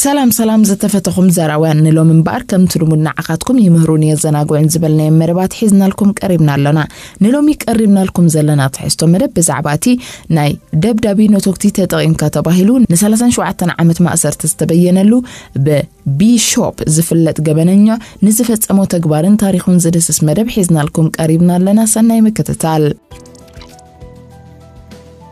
ሰላም ሰላም ዝተፈተኹም ዘራውያን ንሎም እምበኣር ከምቲ ልሙድ ንዓኻትኩም ይምህሩን የዘናግዑን ዝበልናዮም መደባት ሒዝናልኩም ቀሪብና ኣሎና ንሎሚ ቀሪብናልኩም ዘለና ትሕዝቶ መደብ ብዛዕባ እቲ ናይ ደብዳቢ ነቶግቲ ተጠቒምካ ተባሂሉ ን37 ዓመት ማእሰርቲ ዝተበየነሉ ብቢሾፕ ዝፍለጥ ገበነኛ ንዝፈጸሞ ተግባርን ታሪኹን ዝድስስ መደብ ሒዝናልኩም ቀሪብና ኣለና ሰናይ ምክትታል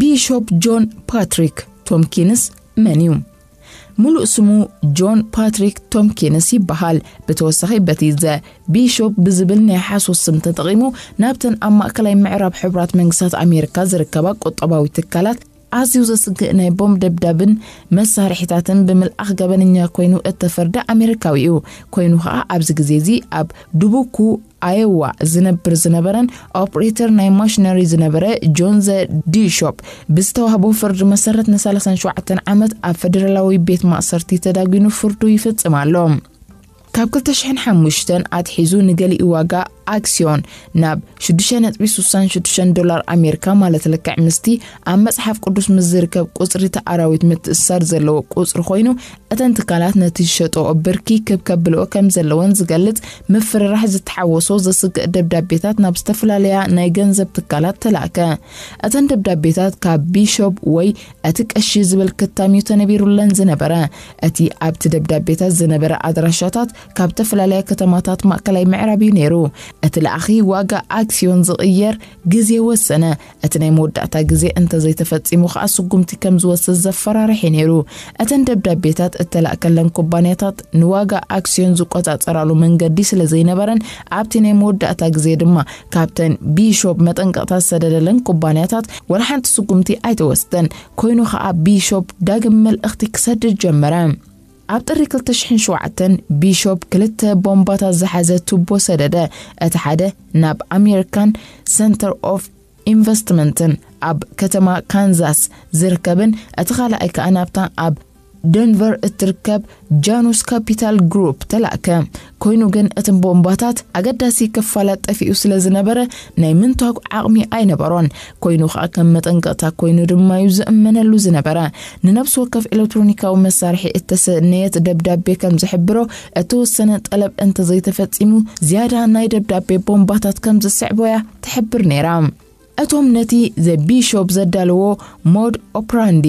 ቢሾፕ ጆን ፓትሪክ ቶምኪንስ መን እዩ? ምሉእ ስሙ ጆን ፓትሪክ ቶምኪንስ ይበሃል። ብተወሳኺ በቲ ዘ ቢሾፕ ብዝብል ናይ ሓሶት ስም ተጠቒሙ ናብተን ኣብ ማእከላይ ምዕራብ ሕቡራት መንግስታት ኣሜሪካ ዝርከባ ቁጠባዊ ትካላት ኣዝዩ ዘስግእ ናይ ቦምብ ደብዳብን መሳርሒታትን ብምልኣኽ ገበነኛ ኮይኑ እተፈርደ ኣሜሪካዊ እዩ። ኮይኑ ከኣ ኣብዚ ግዜ እዚ ኣብ ድቡኩ ኣየዋ ዝነብር ዝነበረን ኦፕሬተር ናይ ማሽነሪ ዝነበረ ጆንዘ ዲሾፕ ብዝተዋህቦ ፍርዲ መሰረት ን37 ዓመት ኣብ ፈደራላዊ ቤት ማእሰርቲ ተዳጒኑ ፍርዱ ይፍጽም ኣሎ ካብ 2005 ኣትሒዙ ንገሊኡ ዋጋ ኣክስዮን ናብ 6.66 ዶላር ኣሜሪካ ማለት ልክዕ ምስቲ ኣብ መፅሓፍ ቅዱስ ምስ ዝርከብ ቁፅሪ ተኣራዊት ምትእስሳር ዘለዎ ቁፅሪ ኮይኑ እተን ትካላት ነቲ ዝሸጠኦ ብርኪ ክብ ከብልኦ ከም ዘለወን ዝገልጽ ምፍርራሕ ዝተሓወሶ ዘስግእ ደብዳቤታት ናብ ዝተፈላለያ ናይ ገንዘብ ትካላት ተላእከ። እተን ደብዳቤታት ካብ ቢሾፕ ወይ እቲ ቀሺ ዝብል ክታም እዩ ተነቢሩለን ዝነበረ። እቲ ኣብቲ ደብዳቤታት ዝነበረ ኣድራሻታት ካብ ተፈላለያ ከተማታት ማእከላይ ምዕራብ እዩ ነይሩ። እቲ ለኣኺ ዋጋ ኣክስዮን ዝቕየር ግዜ ወሰነ። እቲ ናይ መወዳእታ ግዜ እንተ ዘይተፈጺሙ ከኣ ስጉምቲ ከም ዝወስድ ዘፈራርሕ'ዩ ነይሩ። እተን ደብዳቤታት እተላእከለን ኩባንያታት ንዋጋ ኣክስዮን ዝቆጻጸራሉ መንገዲ ስለ ዘይነበረን ኣብቲ ናይ መወዳእታ ግዜ ድማ ካብተን ቢሾፕ መጠንቀቕታ ዝሰደደለን ኩባንያታት ወላ ሓንቲ ስጉምቲ ኣይተወስደን። ኮይኑ ከኣ ቢሾፕ ዳግም መልእኽቲ ክሰድድ ጀመረ። ኣብ ጥሪ ክልተ ሽሕን ሸውዓተን፣ ቢሾፕ ክልተ ቦምባታት ዝሓዘ ቱቦ ሰደደ፣ እቲ ሓደ ናብ ኣሜሪካን ሰንተር ኦፍ ኢንቨስትመንትን ኣብ ከተማ ካንዛስ ዝርከብን እቲ ካልኣይ ከኣ ናብታ ኣብ ደንቨር እትርከብ ጃኑስ ካፒታል ግሩፕ ተላእከ። ኮይኑ ግን እቲ ቦምባታት ኣገዳሲ ክፋላት ጠፊኡ ስለ ዝነበረ ናይ ምንታግ ዓቕሚ ኣይነበሮን። ኮይኑ ከኣ ከም መጠንቀቕታ ኮይኑ ድማ'ዩ ዝእመነሉ ዝነበረ። ንነብሲ ወከፍ ኤለትሮኒካዊ መሳርሒ እተሰነየት ደብዳቤ ከም ዝሕብሮ እተወሰነ ጠለብ እንተ ዘይተፈጺሙ ዝያዳ ናይ ደብዳቤ ቦምባታት ከም ዝስዕቦ'ያ ትሕብር ነይራ። እቶም ነቲ ዘ ቢሾፕ ዘዳለዎ ሞድ ኦፕራንዲ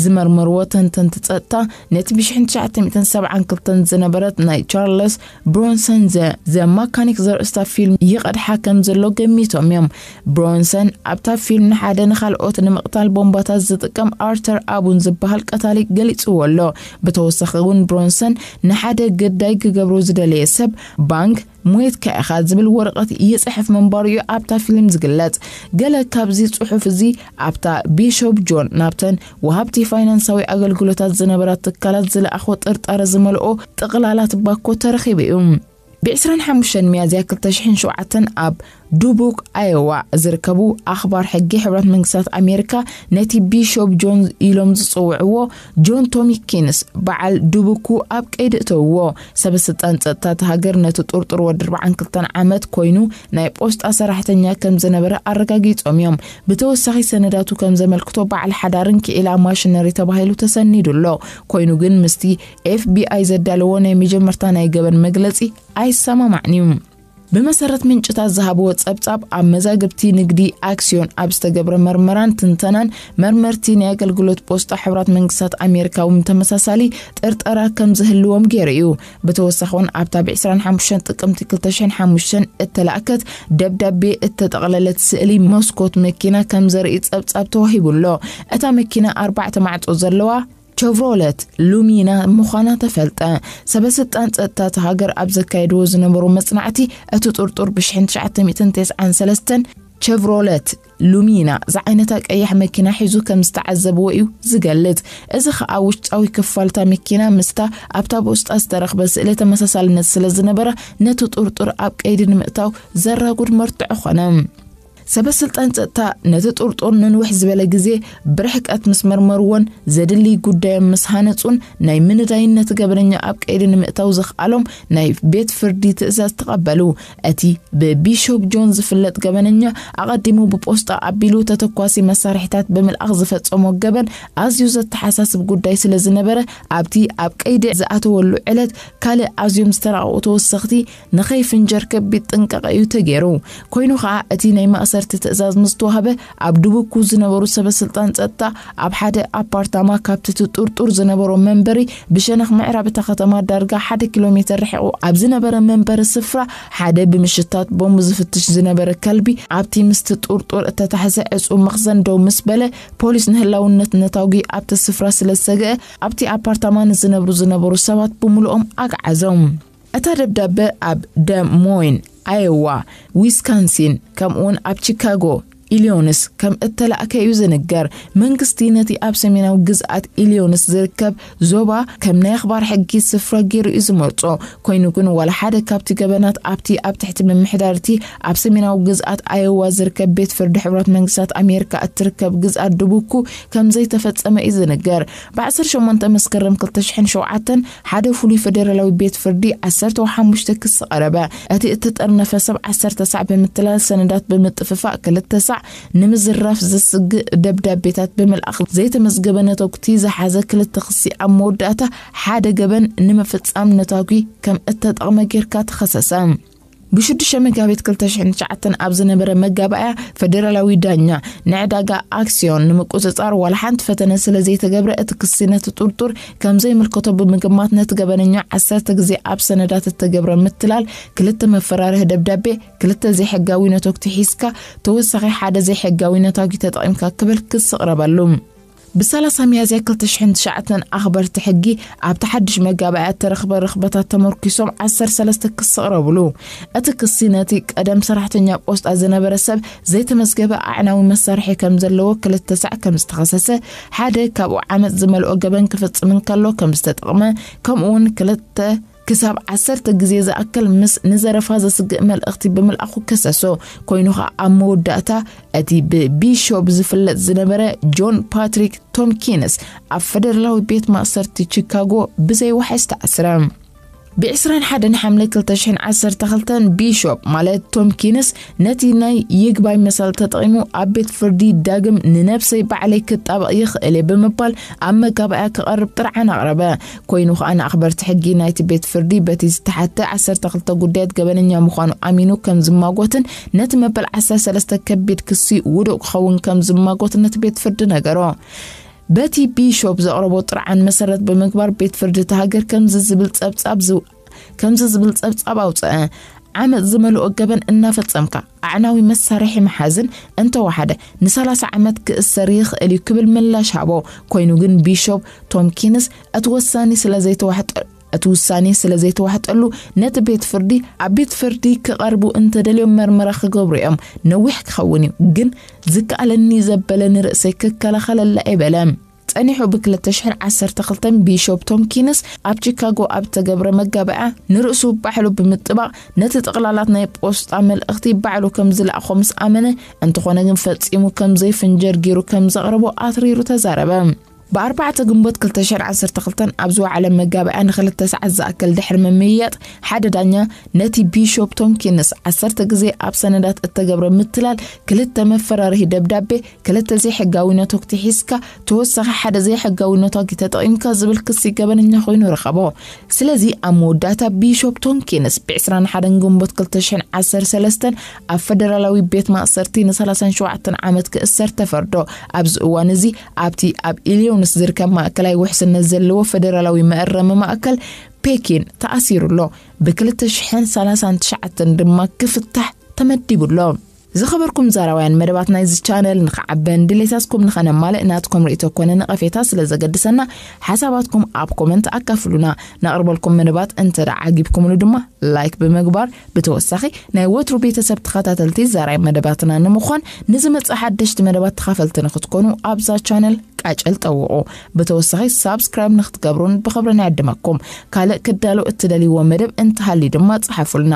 ዝመርመርዎ ተንተንቲ ጸጥታ፣ ነቲ ብ ሽሕን ትሽዓተ ሚእትን ሰብዓን ክልተን ዝነበረት ናይ ቻርለስ ብሮንሰን ዘ ዘ ማካኒክ ዘርእስታ ፊልም ይቐድሓ ከም ዘሎ ገሚቶም እዮም። ብሮንሰን ኣብታ ፊልም ንሓደ ንኻልኦት ንምቕታል ቦምባታት ዝጥቀም ኣርተር ኣቡን ዝበሃል ቀታሊ ገሊጽዎ ኣሎ። ብተወሳኺ እውን ብሮንሰን ንሓደ ግዳይ ክገብሮ ዝደለየ ሰብ ባንግ ሞይትካ ኢኻ ዝብል ወረቐት ይጽሕፍ ምንባሩ እዩ ኣብታ ፊልም ዝግለጽ። ገለ ካብዚ ጽሑፍ እዚ ኣብታ ቢሾፕ ጆን ናብተን ወሃብቲ ፋይናንሳዊ ኣገልግሎታት ዝነበራ ትካላት ዝለኣኾ ጥርጣረ ዝመልኦ ጥቕላላት ባኮ ተረኺቡ እዩ። ብ ዕስራን ሓሙሽተን ሚያዝያ ክልተ ሽሕን ሸውዓተን ኣብ ዱቡክ ኣዮዋ ዝርከቡ ኣኽባር ሕጊ ሕብረት መንግስታት ኣሜሪካ ነቲ ቢሾፕ ጆን ኢሎም ዝጽውዕዎ ጆን ቶሚኪንስ በዓል ዱቡኩ ኣብ ቀይዲ እተውዎ ሰበ ስልጣን ጸጥታ እቲ ሃገር ነቲ ጥርጡር ወዲ 42 ዓመት ኮይኑ ናይ ጶስጣ ሰራሕተኛ ከም ዝነበረ ኣረጋጊጾም እዮም ብተወሳኺ ሰነዳቱ ከም ዘመልክቶ በዓል ሓዳርን ክኢላ ማሽነሪ ተባሂሉ ተሰኒዱ ኣሎ ኮይኑ ግን ምስቲ ኤፍቢኣይ ዘዳለዎ ናይ መጀመርታ ናይ ገበን መግለጺ ኣይሰማማዕን እዩ ብመሰረት ምንጭታት ዝሃብዎ ጸብጻብ ኣብ መዛግብቲ ንግዲ ኣክስዮን ኣብ ዝተገብረ መርመራን ትንተናን መርመርቲ ናይ ኣገልግሎት ፖስጣ ሕብራት መንግስታት ኣሜሪካ እውን ተመሳሳሊ ጥርጠራ ከም ዝህልዎም ገይሩ እዩ ብተወሳኺ እውን ኣብታ ብ 25 ጥቅምቲ 2005 እተላእከት ደብዳቤ እተጠቕለለት ስእሊ መስኮት መኪና ከም ዘርኢ ጸብጻብ ተዋሂቡ ኣሎ እታ መኪና ኣርባዕተ ማዕጾ ዘለዋ ቸቭሮለት ሉሚና ምዃና ተፈልጠ። ሰበስልጣን ጸጥታ እታ ሃገር ኣብ ዘካየድዎ ዝነበሩ መጽናዕቲ እቲ ጥርጡር ብ1993 ቸቭሮለት ሉሚና ዝዓይነታ ቀያሕ መኪና ሒዙ ከም ዝተዓዘብዎ እዩ ዝገልጽ። እዚ ከኣ ውሽጣዊ ክፋልታ መኪና ምስታ ኣብታ ብውስጣ ዝተረኽበ ስእሊ ተመሳሳልነት ስለ ዝነበራ ነቲ ጥርጡር ኣብ ቀይዲ ንምእታው ዘራጉድ መርትዖ ኾነ። ሰበስልጣን ጸጥታ ነቲ ጥርጡር ንንውሕ ዝበለ ግዜ ብርሕቀት ምስ መርመርዎን ዘድልይ ጉዳዮም ምስ ሃነጹን ናይ ምንዳይን ነቲ ገበነኛ ኣብ ቀይዲ ንምእታው ዘኽኣሎም ናይ ቤት ፍርዲ ትእዛዝ ተቐበሉ። እቲ ብቢሾፕ ጆን ዝፍለጥ ገበነኛ ኣቐዲሙ ብጶስጣ ኣቢሉ ተተኳሲ መሳርሒታት ብምልኣኽ ዝፈጸሞ ገበን ኣዝዩ ዘተሓሳስብ ጉዳይ ስለ ዝነበረ ኣብቲ ኣብ ቀይዲ ዝኣተወሉ ዕለት ካልእ ኣዝዮም ዝተራቐቑ ተወሰኽቲ ንኸይፍንጀር ከቢድ ጥንቃቐ እዩ ተገይሩ። ኮይኑ ኸኣ እቲ ናይ ማእሰርቲ ትእዛዝ ምስ ተዋህበ ኣብ ዱቡኩ ዝነበሩ ሰበ ስልጣን ጸጥታ ኣብ ሓደ ኣፓርታማ ካብቲ እቲ ጥርጡር ዝነበሮ መንበሪ ብሸነኽ ምዕራብ እታ ከተማ ዳርጋ ሓደ ኪሎ ሜተር ርሒቑ ኣብ ዝነበረ መንበሪ ስፍራ ሓደ ብምሽታት ቦምብ ዝፍትሽ ዝነበረ ከልቢ ኣብቲ ምስቲ ጥርጡር እተታሕዘ ዕጹው መኽዘን ደው ምስ በለ ፖሊስ ንህላውነት ነታጒ ኣብቲ ስፍራ ስለ ዝሰግአ ኣብቲ ኣፓርታማ ንዝነብሩ ዝነበሩ ሰባት ብምሉኦም ኣግዓዞም። እታ ደብዳበ ኣብ ደ ሞይን፣ ኣየዋ፣ ዊስካንሲን፣ ከምኡውን ኣብ ቺካጎ፣ ኢልዮንስ፣ ከም እተላእከ እዩ ዝንገር። መንግስቲ ነቲ ኣብ ሰሜናዊ ግዝኣት ኢልዮንስ ዝርከብ ዞባ ከም ናይ ኣኽባር ሕጊ ስፍራ ገይሩ እዩ ዝመርጾ። ኮይኑ ግን ዋላ ሓደ ካብቲ ገበናት ኣብቲ ኣብ ትሕቲ ምምሕዳር እቲ ኣብ ሰሜናዊ ግዝኣት ኣየዋ ዝርከብ ቤት ፍርዲ ሕቡራት መንግስታት ኣሜሪካ እትርከብ ግዝኣት ዱቡኩ ከም ዘይተፈጸመ እዩ ዝንገር። ብ18 መስከረም 2007 ሓደ ፍሉይ ፈደራላዊ ቤት ፍርዲ ዓሰርተው ሓሙሽተ ክሲ ቀረበ። እቲ እተጠርነፈ ሰብ ዓሰርተ ሳዕ ብምትላል ሰነዳት ብምጥፍፋእ ክልተ ሳዕ ንምዝራፍ ዘስግእ ደብዳቤታት ብምልኣኽ ዘይተመዝገበ ነተጉቲ ዝሓዘ ክልተ ክሲ ኣብ መወዳእታ ሓደ ገበን ንምፍጻም ነታጒ ከም እተጠቕመ ጌርካ ተኸሰሰ። ብሽዱሽተ መጋቢት ክልተ ሽሕን ትሽዓተን ኣብ ዝነበረ መጋባእያ ፈደራላዊ ዳኛ ንዕዳጋ ኣክስዮን ንምቁፅፃር ዋላ ሓንቲ ፈተነ ስለ ዘይተገብረ እቲ ክሲ ነቲ ጥርጡር ከም ዘይምልከቶ ብምግማት ነቲ ገበነኛ ዓሰርተ ግዜ ኣብ ሰነዳት እተገብረ ምትላል ክልተ መፈራርሂ ደብዳቤ ክልተ ዘይሕጋዊ ነቶግቲ ሒዝካ ተወሳኺ ሓደ ዘይሕጋዊ ነታጒ ተጠቒምካ ክብል ክሲ ቕረበሉ። ብ ሰላሳ ሚያዝያ ክልተ ሽሕን ትሽዓተን ኣኽበርቲ ሕጊ ኣብቲ ሓድሽ መጋባእያ እተረኽበ ርኽበታት ተመርኲሶም ዓሰርተ ሰለስተ ክሲ ቕረቡሉ። እቲ ክሲ ነቲ ቀደም ሰራሕተኛ ጶስጣ ዝነበረ ሰብ ዘይተመዝገበ ኣዕናዊ መሳርሒ ከም ዘለዎ፣ ክልተ ሳዕ ከም ዝተኸሰሰ፣ ሓደ ካብኡ ዓመጽ ዝመልኦ ገበን ክፍጽም እንከሎ ከም ዝተጠቕመ፣ ከምኡውን ክልተ ክሳብ ዓሰርተ ግዜ ዝኣክል ምስ ንዘረፋ ዘስግእ መልእኽቲ ብምልኣኹ ከሰሶ። ኮይኑ ኸኣ ኣብ መወዳእታ እቲ ብቢሾፕ ዝፍለጥ ዝነበረ ጆን ፓትሪክ ቶምኪንስ ኣብ ፈደራላዊ ቤት ማእሰርቲ ቺካጎ ብዘይዋሕስ ተኣስረ። ብዕስራን ሓደን ሓምለ ክልተ ሽሕን ዓሰርተ ክልተን ቢሾፕ ማለት ቶምኪንስ ነቲ ናይ ይግባይ መሰል ተጠቒሙ ኣብ ቤት ፍርዲ ዳግም ንነብሰይ ባዕለይ ክጣበቕ ይኽእል እየ ብምባል ኣብ መጋባእያ ክቐርብ ጥርዓን ኣቕረበ። ኮይኑ ከኣ ንኣኽበርቲ ሕጊ ናይቲ ቤት ፍርዲ በቲ ዝተሓተ ዓሰርተ ክልተ ጉዳያት ገበነኛ ምዃኑ ኣሚኑ ከም ዝማጎትን ነቲ መበል ዓሰርተ ሰለስተ ከቢድ ክሲ ውዱእ ክኸውን ከም ዝማጎትን ነቲ ቤት ፍርዲ ነገሮ። በቲ ቢሾፕ ዘቕረቦ ጥርዓን መሰረት ብምግባር ቤት ፍርዲ እታ ሃገር ከምዚ ዝብል ጸብጻብ ከምዚ ዝብል ጸብጻብ ኣውጽኣ፣ ዓመጽ ዝመልኦ ገበን እናፈጸምካ ኣዕናዊ መሳርሒ ምሓዝን እንተወሓደ ንሰላሳ ዓመት ክእሰር ይኽእል እዩ ክብል ምላሽ ሃቦ። ኮይኑ ግን ቢሾፕ ቶምኪንስ እቲ ወሳኒ ስለ ዘይተዋሕጠ እቲ ውሳኔ ስለ ዘይተዋሕጠሉ ነቲ ቤት ፍርዲ ኣብ ቤት ፍርዲ ክቐርቡ እንተደልዮም መርመራ ክገብሩ እዮም ነዊሕ ክኸውን እዩ ግን ዝከኣለኒ ዘበለ ንርእሰይ ክከላኸለላ እየ በለ። ጸኒሑ ብ ክልተ ሽሕን ዓሰርተ ክልተን ቢሾፕ ቶምኪንስ ኣብ ቺካጎ ኣብ እተገብረ መጋብእያ ንርእሱ ባዕሉ ብምጥባቕ ነቲ ጥቕላላት ናይ ጶስጣ መልእኽቲ ባዕሉ ከም ዝለኣኾ ምስ ኣመነ እንተኾነ ግን ፈጺሙ ከም ዘይፍንጀር ጊሩ ከም ዘቕረቦ ኣትሪሩ ተዛረበ። ብ ኣርባዕተ ግንቦት ክልተ ሽሕን ዓሰርተ ክልተን ኣብ ዝወዓለ መጋብእያ ንክልተ ሰዓት ዝኣክል ድሕሪ ምምይያጥ ሓደ ዳኛ ነቲ ቢሾፕ ቶምኪንስ ዓሰርተ ግዜ ኣብ ሰነዳት እተገብረ ምትላል ክልተ መፈራርሂ ደብዳቤ ክልተ ዘይሕጋዊ ነቶግቲ ሒዝካ ተወሳኺ ሓደ ዘይሕጋዊ ነቷጊ ተጠቒምካ ዝብል ክሲ ገበነኛ ኮይኑ ረኸቦ። ስለዚ ኣብ መወዳእታ ቢሾፕ ቶምኪንስ ብ21 ግንቦት 2013 ኣብ ፈደራላዊ ቤት ማእሰርቲ ን37 ዓመት ክእሰር ተፈርዶ። ኣብዚ እዋን እዚ ኣብቲ ኣብ ኢልዮንስ ዝርከብ ማእከላይ ውሕስነት ዘለዎ ፈደራላዊ መእረሚ ማእከል ፔኪን ተኣሲሩ ኣሎ። ብ2039 ድማ ክፍታሕ ተመዲቡ ኣሎ። ዝኸበርኩም ዛራውያን መደባት ናይዚ ቻነል ንኽዓበን ድሌታትኩም ንኸነማልእ ናትኩም ርእቶ ኮነ ነቐፌታ ስለ ዘገድሰና ሓሳባትኩም ኣብ ኮመንት ኣካፍሉና ነቕርበልኩም መደባት እንተ ዓጊብኩምሉ ድማ ላይክ ብምግባር ብተወሳኺ ናይ ወትሩ ቤተሰብ ተኸታተልቲ ዛራይ መደባትና ንምዃን ንዝመጽእ ሓደሽቲ መደባት ተኻፈልቲ ንኽትኮኑ ኣብዛ ቻነል ቃጨል ጠውቑ ብተወሳኺ ሳብስክራይብ ንክትገብሩን ብክብሪ ናይ ኣድመኩም ካልእ ክዳሎ እትደልይዎ መደብ እንተሃልዩ ድማ ጽሓፉልና